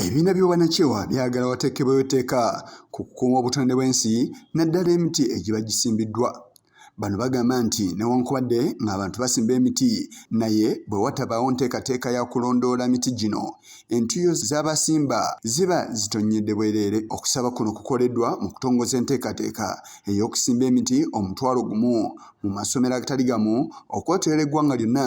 Ebibiina by'obwanakyewa byagala wateekebwewo etteeka ku kukuuma obutonde bw'ensi naddala emiti egiba gisimbiddwa. Bano bagamba nti newankubadde ng'abantu basimba emiti naye bwe watabaawo nteekateeka ya kulondoola miti gino entuyo z'abasimba ziba zitonnyedde bwereere. Okusaba kuno kukoleddwa mu kutongoza enteekateeka ey'okusimba emiti omutwalo gumu mu masomero agatali gamu okwetoyera eggwanga lyonna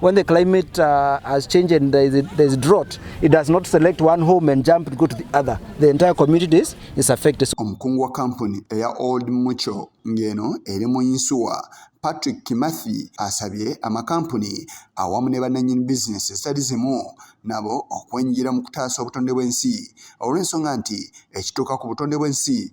When the climate uh, has changed and there is, there is drought, it does not select one home and jump and go to the other. The entire community is, is affected. Omukungu wa kampuni eya Old Mucho ng'eno eri mu yinsuwa Patrick Kimathi asabye amakampuni awamu ne bannannyini bizinensi ezitali zimu nabo okwenyigira mu kutaasa obutonde bw'ensi olw'ensonga nti ekituuka ku butonde bw'ensi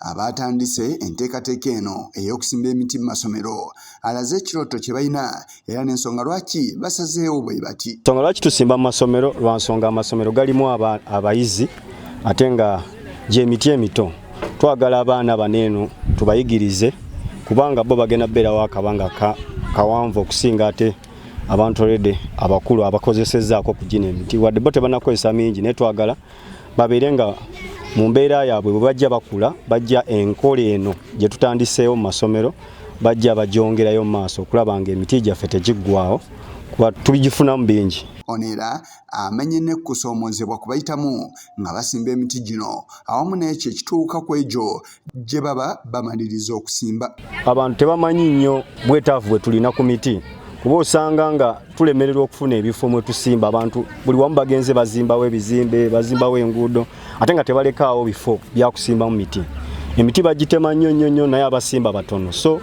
abaatandise enteekateeka eno ey'okusimba emiti mu masomero alaze ekirooto kye balina era n'ensonga lwaki basazeewo bwe bati ensonga lwaki tusimba mu masomero lwa nsonga amasomero galimu abayizi ate nga gy'emiti emito twagala abaana bano eno tubayigirize kubanga bo bagenda beerawo akabanga kawanvu okusinga ate abantu olede abakulu abakozesezaako okugina emiti wadde bo tebanakozesa mingi naye twagala babeere nga mu mbeera yaabwe bwe bajja bakula bajja enkola eno gye tutandiseewo mu masomero bajja bagyongerayo mu maaso okulaba nga emiti gyaffe tegiggwawo kuba tubigifunamu bingi ono era amenye n'ekkusoomozebwa kubayitamu nga basimba emiti gino awamu n'ekyo ekituuka ku egyo gye baba bamaliriza okusimba. Abantu tebamanyi nnyo bwetaavu bwe tulina ku miti kuba osanga nga tulemererwa okufuna ebifo mwe tusimba abantu buli wamu bagenze bazimbawo ebizimbe bazimbawo enguudo ate nga tebalekaawo bifo byakusimbamu miti emiti bagitema nnyo nnyo nnyo naye abasimba batono so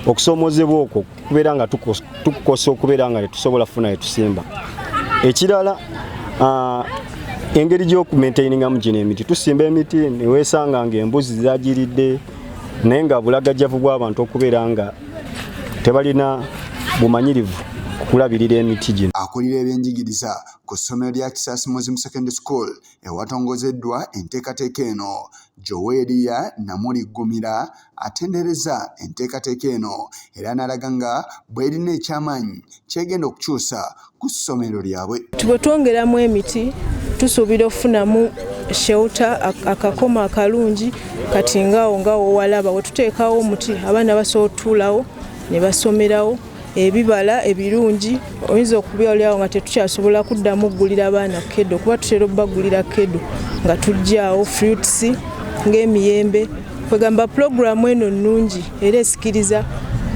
okusoomoozebwa okwo kubeera nga tukukosa okubeera nga tetusobola funa etusimba ekirala ah, engeri gyokumaintainingamu gino emiti tusimba emiti newesanga nga embuzi zagiridde naye nga bulagajjavu bw'abantu okubeera nga tebalina bumanyirivu kulabirira emiti gino akulira ebyenjigiriza ku ssomero lya kisasi muslim secondary school ewatongozeddwa enteekateeka eno Joweria Namuli Ggumira atendereza enteekateeka eno era n'alaga nga bw'erina ekyamaanyi ky'egenda okukyusa ku ssomero lyabwe. Bwe twongeramu emiti tusuubira okufunamu shewuta akakoma akalungi kati ngaawo nga wowalaba we tuteekawo omuti abaana basobola otutuulawo ne basomerawo. ebibala ebirungi oyinza okubyolyawo nga tetukyasobola kuddamu okugulira abaana kedo kuba tutera okubagulira kedo nga tugyawo fruits ng'emiyembe kwegamba pulogulaamu eno nnungi era esikiriza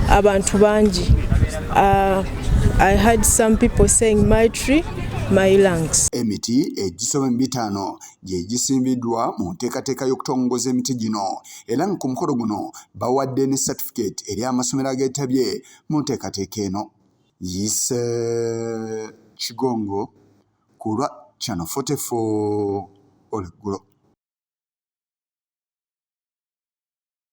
abantu bangi ah, i had some people saying my tree emiti egisoma mu bitaano gye gisimbiddwa mu nteekateeka y'okutongoza emiti gino era nga ku mukolo guno bawadde ne satifikeeti eri amasomero ageetabye mu nteekateeka eno yise kigongo ku lwa chano 44 olweggulo